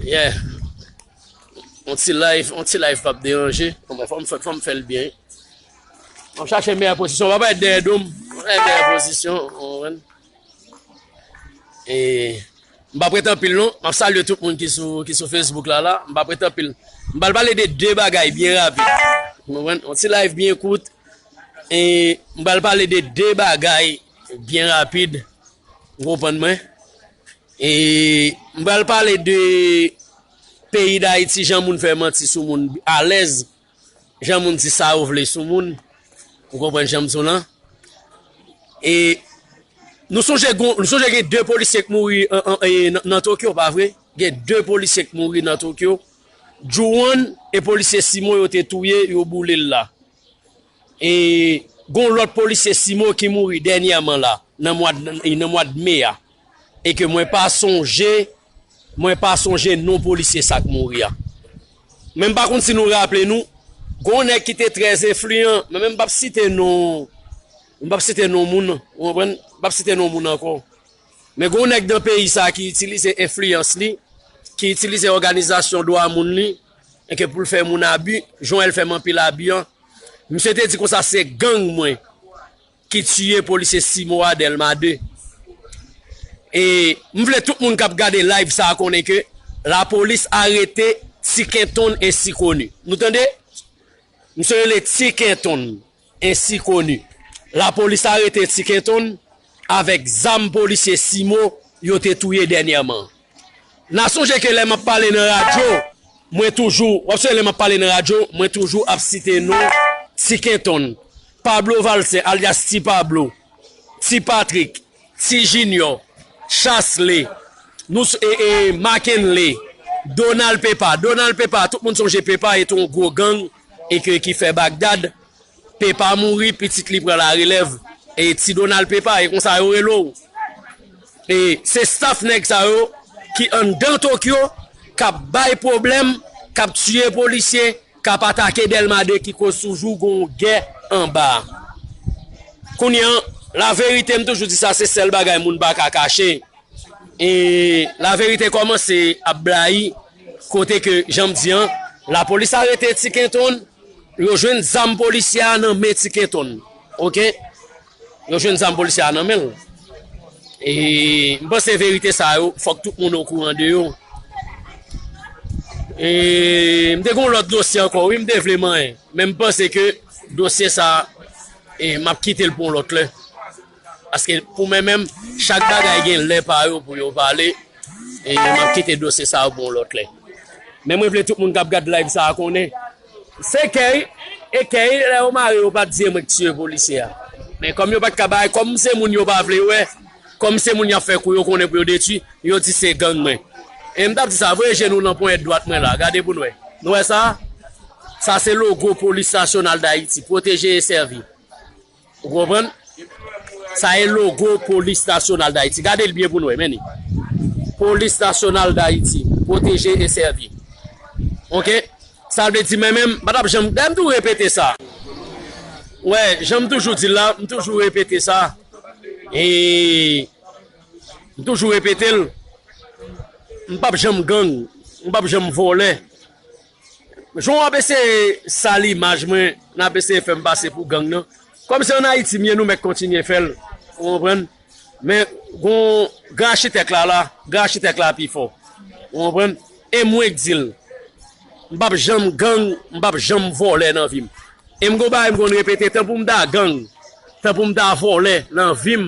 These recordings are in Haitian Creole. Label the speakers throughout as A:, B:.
A: Yeah. On ti live, on ti live pap deranje. Mwen fòm fè fòm fèl byen. Mwen chache meyè pozisyon. Mwen pa dè dom. Mwen chache meyè pozisyon. Mwen. E mwen pa pretan pil non. Mwen salye tout moun ki sou ki sou Facebook la la. Mwen pa pretan pil. Mwen bal pale de de bagay byen rapid. Mwen on ti live byen kout. E mwen bal pale de de bagay byen rapid. Ou konprann mwen? E m pral pale de peyi Dayiti, jan moun fè manti sou moun alèz, jan moun di sa yo vle sou moun. Ou konprann jan m di w lan? E nou sonje gen 2 polisye k mouri nan Tokyo, pa vre? Gen 2 polisye k mouri nan Tokyo. Jou 1, e polisye Simon yo te touye, yo boule l la. E gon lòt polisye Simo ki mouri dènyèman la nan mwad me a e ke mwen pa sonje mwen pa sonje non polisye sa k mouri a. Men m pa konn si nou raple nou gon nèg ki te trè enfliyan men m pap site non m pap site non moun ou konprann m pap site non moun ankò. Men gon nèg nan peyi sa ki itilize enfliyans li, ki itilize òganizasyon dwa moun li, enke pou l fè moun abi, Joel fè m anpil abi an, misye te di konsa se gang mwen ki tiye polisye Simo a Dèlma 2. E m vle tout moun k ap gade live sa konnen ke lapolis arete Tikentonn ensi koni. Nou tande? Misye rele Tikentonn. Ainsi koni. Lapolis arete Ti Kenton avèk zam polisye Simo yo te touye dènyèman. N a sonje ke lè m ap pale nan radyo, mwen toujou, w ap sonje lè m ap pale nan radyo, mwen toujou ap site non Ti Kenton, Pablo Valcin alyas Ti Pablo, Ti Patrik, Ti Junior, Chasle, nou s e e Makenley, Donald Pepa, Donald Pepa, tout moun sonje Pepa et on gwo gang e ke ki fè Bagdad, Pepa mouri, pitit li pran la relèv e Ti Donald Pepa e konsa yo rele w. E se staff nèg sa yo ki anndan Tokyo k ap bay pwoblèm, k ap tiye polisye, K ap atake Dèlma 2 ki koz toujou gon w gè anba a. Kounye an, laverite m toujou di sa se sèl bagay moun pa ka kache e laverite kòmanse ap blayi kote ke jan m di an lapolis arete Ti Kenton, yo jwenn zam polisyè a nan men Ti Kenton. Ok. Yo jwenn zam polisye a nan menl. E m panse verite sa yo fòk tout moun okouran de yo. E m te gon lòt dosye ankò wi m te vle manyen. Men m panse ke dosye sa e m ap kite l pou yon lòt lè. Paske pou mwen menm chak bagay gen lè pa yo pou yo pale. E m ap kite dosye sa pou yon lòt lè. Men mwen vle tout moun k ap gad live sa konnen. Se key e key lè yo mare yo pat di e mwen k tiye polisye a men kòm yo pat ka bay kòm se moun yo pa vle wè kòm se moun yap fè kou yo konnen pou yo detwi yo di se gang mwen e mtap di sa voye je nou nan ponyèt dwat mwen la gade pou nou wè nou wè sa sa se logo polis nasyonal dayiti pwoteje e sèvi. Ou konprann? Sa e logo polis nasyonal dayiti. Gade l byen pou nou wè. Men li. Polis nasyonal dayiti. Pwoteje e sèvi. Ok? Sa vle di men menm, m pa tap janm, dayè m toujou repete sa. Wè, jan m toujou di l la, m toujou repete sa. E m toujou repete l. M pap janm gang. M pap janm vòlè. Jan wap eseye sal imaj mwen nap eseye fèm pase pou gang nan kòm se an ayiti m ye nou mèt kontinye fèl ou konprann men gon gran achitèk la la gran achitèk la pi fò ou konprann e mwen k dil m pap janm gang m pap janm vòlè nan vim e m gon bagay m konn repete tan poum ta gang tan poum ta vòlè nan vim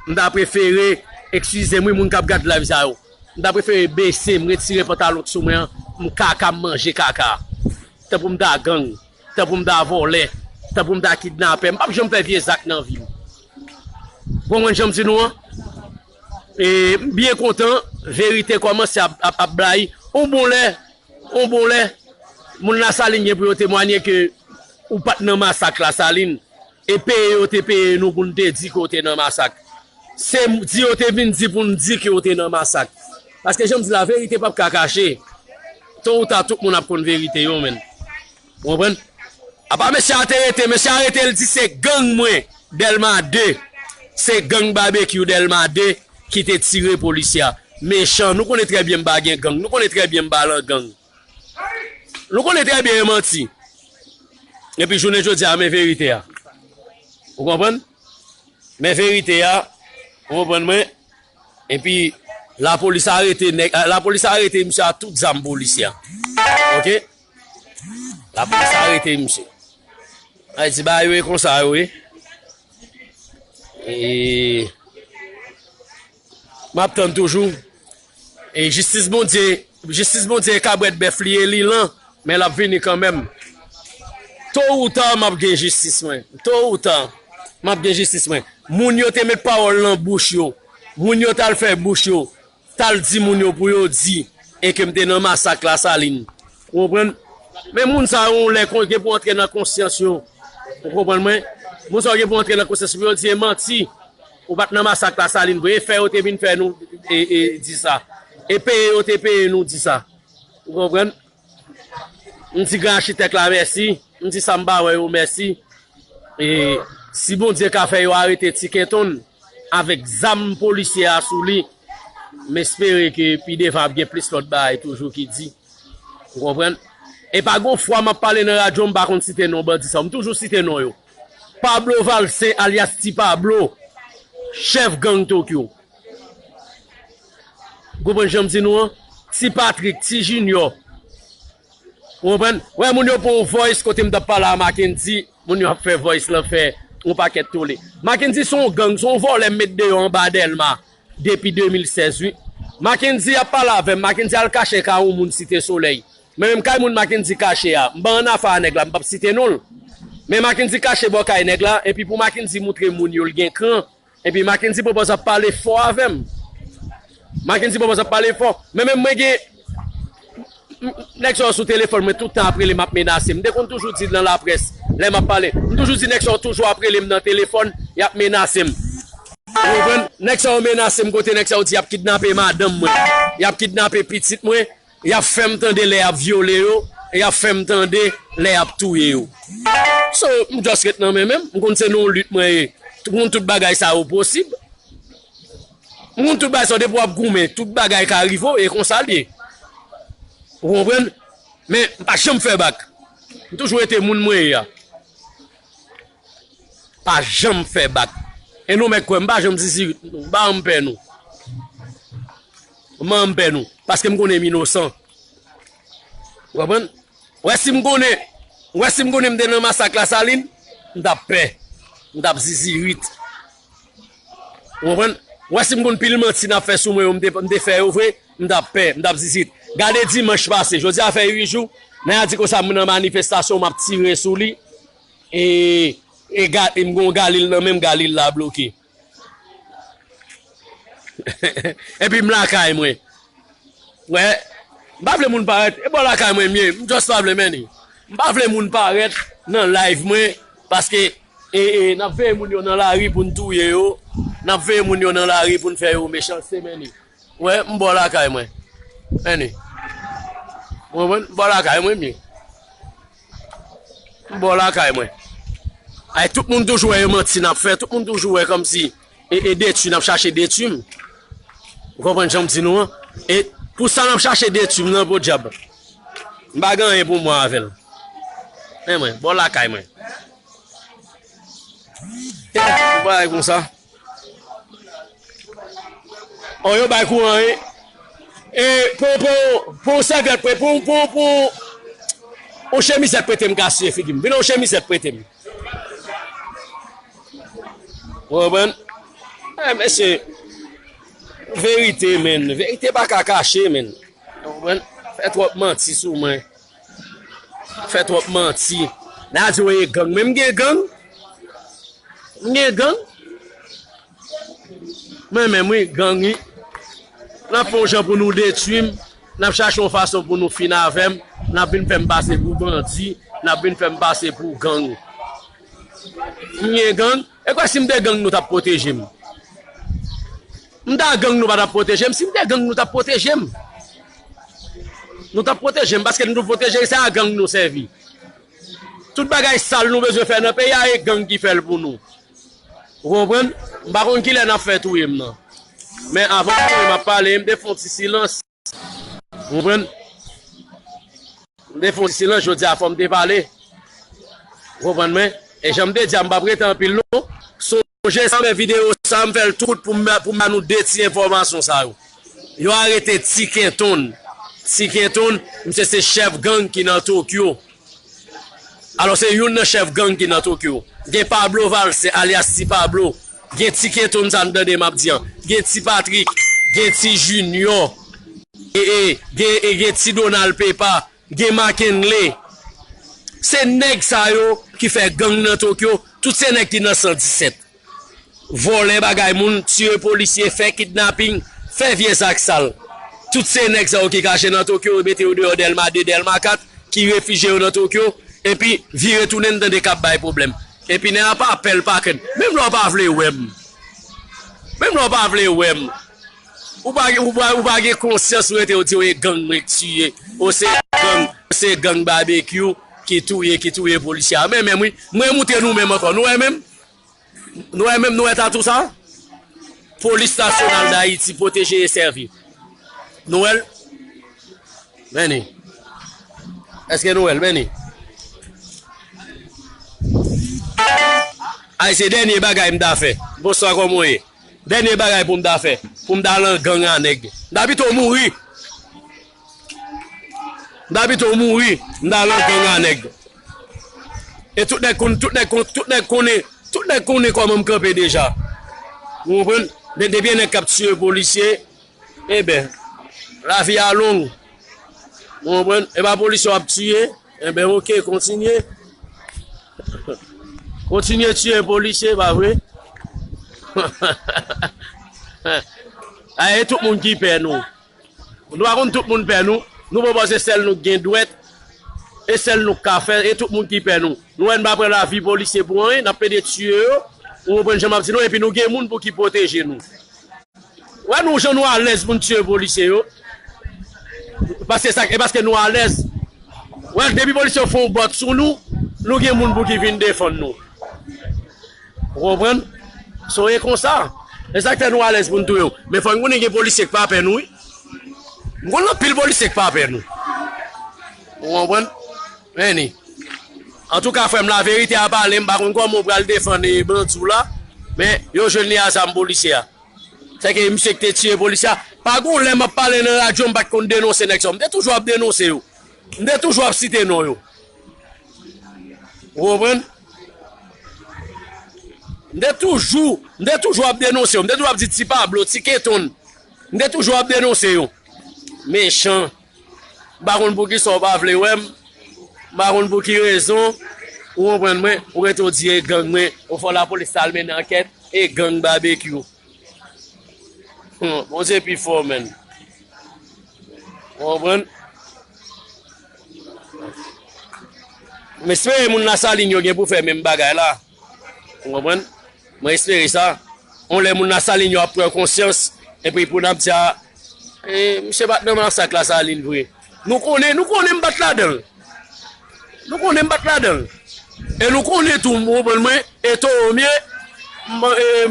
A: m ta prefere ekskizem wi moun kap gad live sa yo. M ta prefere bese m retire pantalon k sou mwen an m kaka m manje kaka tan pou m ta gang tan pou m ta vòlè tan pou m ta kidnapè m pap janm fè vye zak nan vi m ou konprann jan m di nou an e m byen kontan verite kòmanse ap blayi on bon lè on bon lè moun lasalin gen pou yo temwanye ke ou pat nan masak lasalin. E peye yo te peye nou pou nou te di ke yo te nan masak. Se di yo te vin di pou nou di ke yo te nan masak. Paske jan m di la, verite pap ka kache. To ou ta tout moun ap konn verite yo menn. Ou konprann? Apa mesye a te rete, mesye a rete li di se gang mwen Dèlma 2. Se gang Babekyou Dèlma 2 ki te tire polisye a. Mechan, nou konnen trè byen m pa gen gang. Nou konnen trè byen m pa lan gang. Nou konnen trè byen e manti. Epi jounen jodi a men verite a. Ou konprann? Men verite a, ou konprann mwen? Epi la polis arete nèg, la polis arete misye a tout zam polisye. Ok? La polis arete misye. Ay di ba yo e konsa yo e. E... Map tann toujou e jistis bondye jistis bondye e kabrèt bèf li e li lan men lap vini kanmenm to ou ta map gen jistis mwen to ou ta map gen jistis mwen moun yo te met pawòl nan bouch yo moun yo tal fè bouch yo tal di moun yo pou yo di e kem te nan masak la salin ou konprann men moun sa yon lè kon gen pou antre nan konsyans yo ou konprann mwen moun sa yo gen pou antre nan konsyans pou yo di e manti Ou pat nan masak la salin vre e fè yo te vin fè nou e di sa e peye yo te peye nou di sa ou konprann m di gran achitèk la mèsi m di sa m pa wè yo mèsi e si bondye ka fè yo arete ti kentonn avèk zam polisye a sou li m espere ke pi devan ap gen plis lòt bagay toujou ki di ou konprann e pa gon fwa m ap pale nan radyo m pa konn site non bandi sa yo m toujou site non yo. Pablo Valcin alyas Ti Pablo, chèf gang Tokyo. Ou konprann jan m di nou an? Ti Patrick, Ti Junior. Ou konprann? Wè moun yo pou yon voice kote m t ap pale a Mackendy, moun yo ap fè voice lan fè yon pakèt tole. Mackendy se yon gang, se yon vòlè m met deyò anba Dèlma depi 2016 wi. Mackendy ap pale avè m, Mackendy al kache kay yon moun Site Solèy. Mwen menm kay moun Mackendy kache a m ban an afa a nèg la m pap site non l men Mackendy kache bò kay nèg la epi pou Mackendy moutre moun yo l gen kran epi Mackendy pwopòz ap pale fò avè m Mackendy pwopòz ap pale fò men menm mwen gen nèg sa yo sou telefòn mwen tout tan ap rele m ap menase m te konn toujou di nan laprès lè m ap pale m toujou di nèg sa yo toujou ap rele m nan telefòn y ap menase m ou konprann nèg sa yo menase m kote nèg sa yo di y ap kidnape madanm mwen y ap kidnape pitit mwen Y ap fè m tande lè y ap vyole yo e y ap fè m tande lè y ap touye yo. So, m just ret nan men men m. M konn se nan yon lit mwen ye. M konn tout bagay sa yo posib. M konn tout bagay sa yo. Depi w ap goumen, tout bagay ka rive w. E konsa l ye. Ou konprann? Men, m pa janm fè bak. M toujou rete moun mwen ye a. M pa janm fè bak. E nou mèt kwè m, m pa janm zizirit. M pa anpè nou. M'en m pè nou paske m konnen m inosan ou konprann ou wè si m konnen ou wè si m konnen m te nan masak lasalin m tap pè m tap zizirit ou konprann ou wè si m konn pil manti nap fè sou mwen yo m te m te fè yo vre m tap pè m tap zizirit gade dimanch pase jodi a fè 8 jou naya di konsa m nan manifestasyon map tire sou li e e ga e m gon galil nan men m galil la bloke. Epi m lakay mwen. Wè. M pa vle moun parèt. E bò lakay mwen m ye. M just pa vle menni. M pa vle moun parèt nan live mwen. Paske e e n ap veye moun yo nan lari pou n touye yo. N ap veye moun yo nan lari pou n fè yo mechanste menni. Wè m bò lakay mwen. Menni. Ou konprann? M bò lakay mwen m ye. M bò lakay mwen. Ay tout moun toujou wè e manti nap fè, tout moun toujou wè kòmsi e e detwi nap chache detwi m. Ou konprann janm di nou an? E pou sa nap chache detwi m nan podyab. M pa gen anyen pou m wè avè l. Men mwen, bò lakay mwen. E bon bagay konsa. Oh yo bay kouran e e pou pou pou sèvyèt pou pou pou pou on chemizèt prete m ka siye figi m. Vin on chemizèt prete m. Ou konprann? Eh mesye verite men, verite pa ka kache men. Ou konprann? Fè twòp manti sou mwen. Fè trop manti. Lè a di yo ye gang men m gen gang. M gen gang. Mwen menm wi gang wi. Nap fon jan pou nou detwi m. Nap chache yon fason pou nou fin avè m. Nap vin fè m pase pou bandi. Nap vin fè m pase pou gang. M gen gang. Ekwè sim te gang nou tap pwotejem. Mta gang nou patap pwotejem sim te gang nou tap pwotejem. Nou tap pwotejem paske nou pwoteje se a gang nou sèvi. Tout bagay sal nou bezwen fè nan peyi a e gang ki fèl pou nou. Ou konprann? Mpa konn kilè nap fè touyem nan. Men avan map pale mte fon ti silans. Ou konprann? M te fè yon ti silans jodi a fò m te pale. Ou konprann mwen? E jan m te di a m pap rete anpil non. Sonje sa m fè videyo sa a m fè l tou kout pou m ba nou de ti enfòmasyon sa yo. Yo arete Ti Kenton. Ti Kenton misye se chèf gang ki nan Tokyo. Alò se youn nan chèf gang ki nan Tokyo. Gen Pablo Valse alyas Ti Pablo. Gen ti keton sa m tande map di an gen ti patrik gen ti jinyò gen ti donal pepa gen makenle se nèg sa yo ki fè gang nan tokyo tout se nèg ki nan 117 vòlè bagay moun tiye polisye fè kidnaping fè vye zak sal tout se nèg sa yo ki kache nan tokyo yo mete yo deyò dèlma 2 dèlma 4 ki refije yo nan tokyo epi vire tounen m tande kap bay pwoblèm. Epinè a pa pèl pa kèd. Menm lè w pa vle wè m Menm lè w pa vle wè m Ou pa gen ou pa gen konsyans ou rete ou di w e gang mwen k tiye o se gang o se gang Babekyou ki touye ki touye polisye a menm wi m remoute nou menm ankò nou wè menm nou wè menm nou wè tatou sa Polis Nasyonal Dayiti Pwoteje e Sèvi nou wè l. Benny Eske nou wèl Benny Ay se dènye bagay m ta fè Bonswa kòman w ye Dènye bagay pou m ta fè Pou m ta lan gang a nèg M ta pito mouri M ta pito mouri M ta lan gang a nèg E tout nèg konn tout nèg konn tout nèg konnen tout nèg konnen kòman m kanpe deja Ou konprann Depi gen nèg k ap tiye polisye Eben lavi a long ou konprann e pa polis yo ap tiye eben ok kontinye kontinye tiye polisye pa vre ae tout moun ki pè nou nou pa konn tout moun pè nou nou pa panse sèl nou gen dwèt e sèl nou ka fè e tout moun ki pè nou nou wè nou pa pran lavi polisye pou anyen nap plede tiye yo ou konprann sa map di nou epi nou gen moun pou ki pwoteje nou. Wè nou jan nou alèz pou n tiye polisye yo paske sa e paske nou alèz wè depi polisye yo fè yon bòt sou nou nou gen moun pou ki vin defann nou ou konprann so e konsa e sak fè nou alèz pou n touye yo men fò n konnen gen polisye k pa pè nou wi m konnen anpil polisye k pa pè nou ou konprann. Any. Antouka frèm la verite a pale m pa konn kòman ou pral defann bandi w la men yo jwenn li a zam polisye a sèke misye ki te tiye polisye a pa gon lè map pale nan radyo m pat konn denonse nèg sa yo m te toujou ap denonse yo m te toujou ap site non yo ou konprann m te toujou m te toujou ap denonse yo m te toujou ap di ti pablo ti keton m te toujou ap denonse yo mechan M pa konn poukisa ou pa vle wè m, m pa konn pou ki rezon, ou konprann mwen, ou rete ou di e gang mwen, ou fè w lapolis ta al mennen ankèt, e gang Babekyou. Humm, Bondye pi fò menn. Ou konprann? M espere moun Lasalin yo gen pou fè menm bagay la. Ou konprann? Mwen espere sa. On lè moun Lasalin yo ap pran konsyans, epi pou nap di a, e, misye pat nan masak Lasalin vre. Nou konnen, nou konnen m pat ladan l. Nou konnen m pat ladan l. E nou konnen tou, ou konprann mwen, e towo m ye,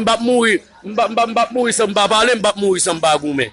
A: m pap mouri, m pap mouri san m pa pale, m pap mouri san m pa goumen.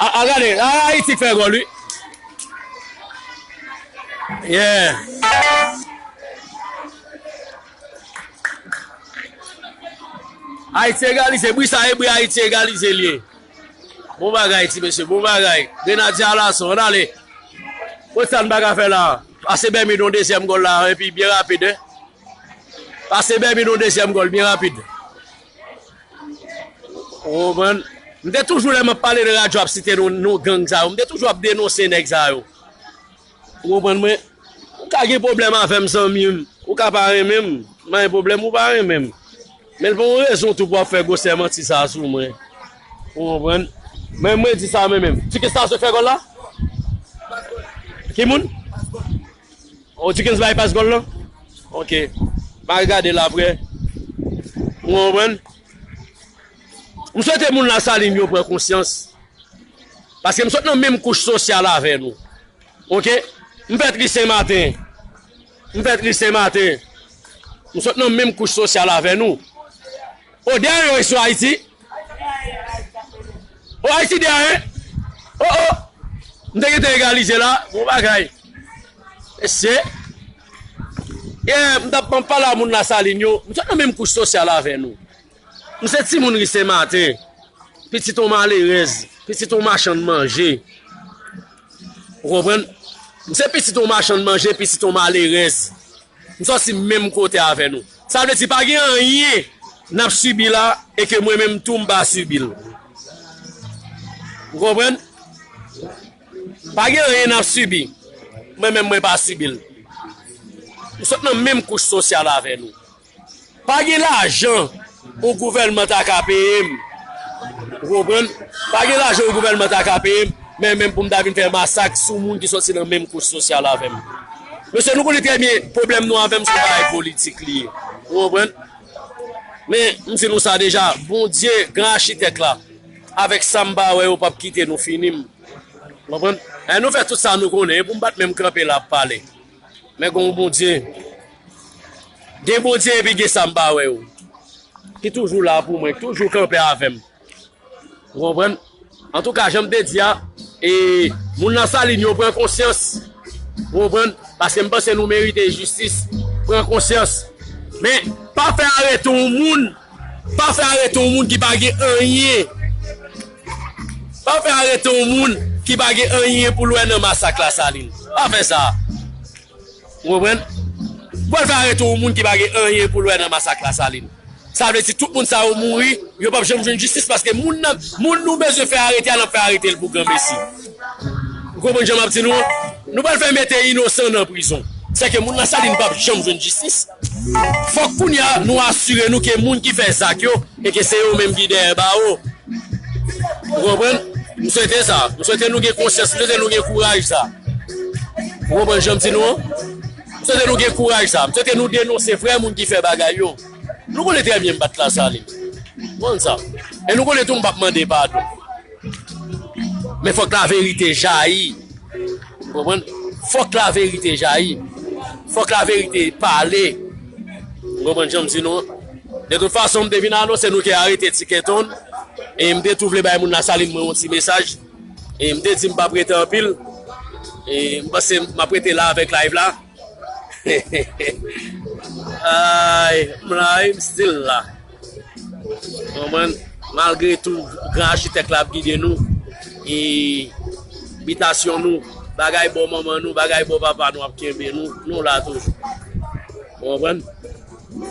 A: Ahh gade ahh Haiti k fè gòl wi yeah Haiti egalize bri sa e bri Haiti egalize l ye bon bagay ti mesye bon bagay grenadye alason ann ale kot sa n pa ka fè la pase Bermud yon dezyèm gòl la epi byen rapid hein pase Bermud yon dezyèm gòl byen rapid. Ou konprann? M te toujou lè m ap pale de radyo ap site non non gang sa yo. M te toujou ap denonse nèg sa yo. Ou konprann mwen? Ou ka gen pwoblèm avè m zanmi m. Ou ka pa renmen m. M pa gen pwoblèm ou pa renmen m. Men l pa yon rezon tou pou w ap fè gwosè manti sa a sou mwen. Ou konprann? Men mwen di sa mwen menm. Ti kis la se fè gòl la? Ki moun? Oh Dukens bay pas gòl lan ok ma regade l aprè ou konprann m swete moun lasalin yo pran konsyans paske m sot nan menm kouch sosyal avè nou ok m fèt ri senmaten m fèt ri senmaten m sot nan menm kouch sosyal avè nou. Oh de an yo ye sou Haiti. Oh Haiti de an. Oh oh. M te gete egalize la. Bon bagay. Mesye. Ye m tap m pala moun la salin yo. M sot nan menm kouch sosyal avè nou. M se ti moun ri se maten. Pitit on malerez. Pitit on machan manje. Ou konpren. M se pitit on machan manje. Pitit on malerez. M sòti menm kote avè nou. Sa vle di pa gen anyen n ap sibi la e ke mwen menm tou m pa sibi l. Ou konprann? Pa gen anyen n ap sibi, mwen menm mwen pa sibi l. M sot nan menm kouch sosyal avè nou. Pa gen lajan ou gouvèlman ta ka peye m, ou konprann, pa gen lajan ou gouvèlman ta ka peye m, men menm pou m ta vin fè masak sou moun ki sòti nan menm kouch sosyal avè m. Mesye, nou konnen trè byen pwoblèm nou avè m se yon bagay politik li ye, ou konprann. Men, m di nou sa deja, Bondye, Gran Achitèk la, avèk sa m pa wè yo p ap kite nou fini m, ou konprann. Lè nou fè tout sa nou konnen, e pou m pa t menm kanpe la ap pale. Men gon Bondye, gen Bondye epi gen sa m pa wè yo ki toujou la pou mwen, ki toujou kanpe avè m. Ou konprann? Antouka, jan m te di a, e moun nan Salin yo pran konsyans, ou konprann, paske m panse nou merite jistis, pran konsyans. Men, pa fè arete yon moun. Pa fè arete yon moun ki pa gen anyen Pa fè arete yon moun ki pa gen anyen pou l wè nan masak Lasalin. Pa fè sa. Ou konprann? Ou pral fè arete yon moun ki pa gen anyen pou l wè nan masak Lasalin. Sa vle di tout moun sa yo mouri, yo pap janm jwenn jistis paske moun nan, moun nou bezwen fè arete a n ap fè arete l pou granmesi. Ou konprann jan m ap di nou an? Nou pral fè mete inosan nan prizon. Sèke moun Lasalin pap janm jwenn jistis. Fòk kounya nou asire nou ke moun ki fè zak yo e ke se yo menm ki dèyè bawo. Ou konprann? M swete sa. M swete nou gen konsyans, m swete nou gen kouraj sa. Ou konprann jan m di nou an? M swete nou gen kouraj sa. M swete nou denonse vrè moun ki fè bagay yo. Nou konnen trè byen m pa t lasalin. Nou konn sa. E nou konnen tou m pa p mande padon. Men fòk la verite jayi. Ou konprann? Fòk la verite jayi. Fòk la verite pale. Ou konprann jan m di nou an? De tout fason, m te vin anonse nou ke arete Ti Kenton. E m te tou vle bay moun Lasalin mwen yon ti mesaj. E m te di m pa p rete anpil. E m panse m ap rete la avèk live la. Aayy, m la wi, m still la. Konprann? Malgre tou gran achitèk la ap gide nou e bitasyon nou, bagay bò manman nou, bagay bò papa nou ap kenbe nou, nou la toujou. Ou konprann?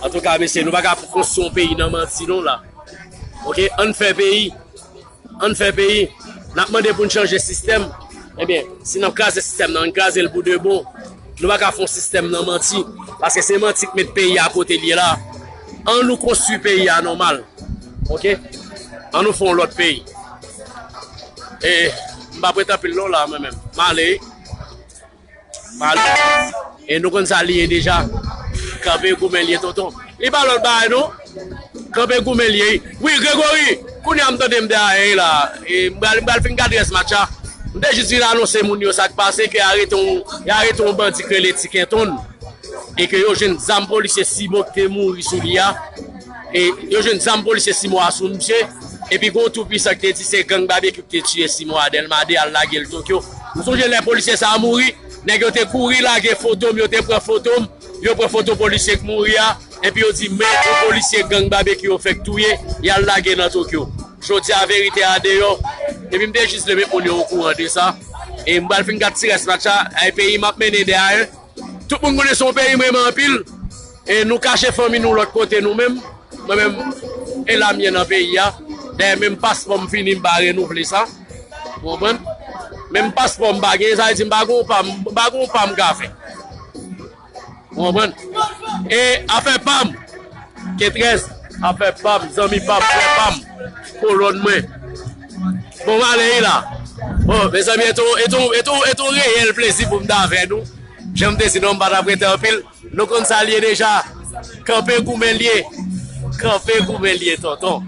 A: Antouka mesye, nou pa ka konstwi yon peyi nan manti non la. Ok, ann fè peyi. Ann fè peyi, nap mande poun chanje sistèm, ebyen si nap kraze sistèm nan ann krazel pou de bon, nou paka fon sistèm nan manti, paske se manti k met peyi a kotel ye la, an nou konstwi peyi a nòmal ok an nou fon lòt peyi e m pa prete anpil non la mwen menm male wi. E nou konn sa li ye deja. Kanpe goumen li ye tonton. Li pa lòt bagay non. Kanpe goumen li ye. Wi Gregory, kounye a m tande m te a 1 la. E m pral fin gad rès match la. M te jis vin anonse moun yo sa k pase ke y arete yon bandi k rele Ti Kenton e ke yo jwenn zam polisye Cibo ki te mouri sou li a. E yo jwenn zam polisye 6 mwa sou misye. Epi gon tou pwisan ki te di se gang Babekyou ki te tiye 6 mwa Dèlma 2 al lage l Tokyo. M sonje lè polisye sa a mouri, nèg yo te kouri lage foto m, yo te pran foto m, yo pran foto polisye k mouri a, epi yo di men yon polisye gang Babekyou yo fèk touye, y al lage nan Tokyo. Jodi a verite a deyò. Epi m te jis vle met moun yo okouran de sa. E m pral fin gad ti rès match la. Ay peyi m ap mennen 2 a 1. Tout moun konnen se yon peyi m renmen anpil. E nou kache fanmi nou lòt kote nou menm, mwen menm e la mye nan peyi a, dayè menm paspò m fini m pa renouvle sa, ou konprann, menm paspò m pa gen, sa vle di m pa gen yon pa, m pa gen yon pa m ka fè, ou konprann, e afè pa m, kentrèz, afè pa m, zanmi pa m, frè pa m, kolòn mwen, bon m ale wi la, bon mezanmi e te yon, e te yon, e te yon reyèl plezi pou m t avè nou, jan m te di non m pa t ap rete anpil. Nou konn sa l ye deja. Kanpe goumen l ye. Kanpe goumen l ye tonton.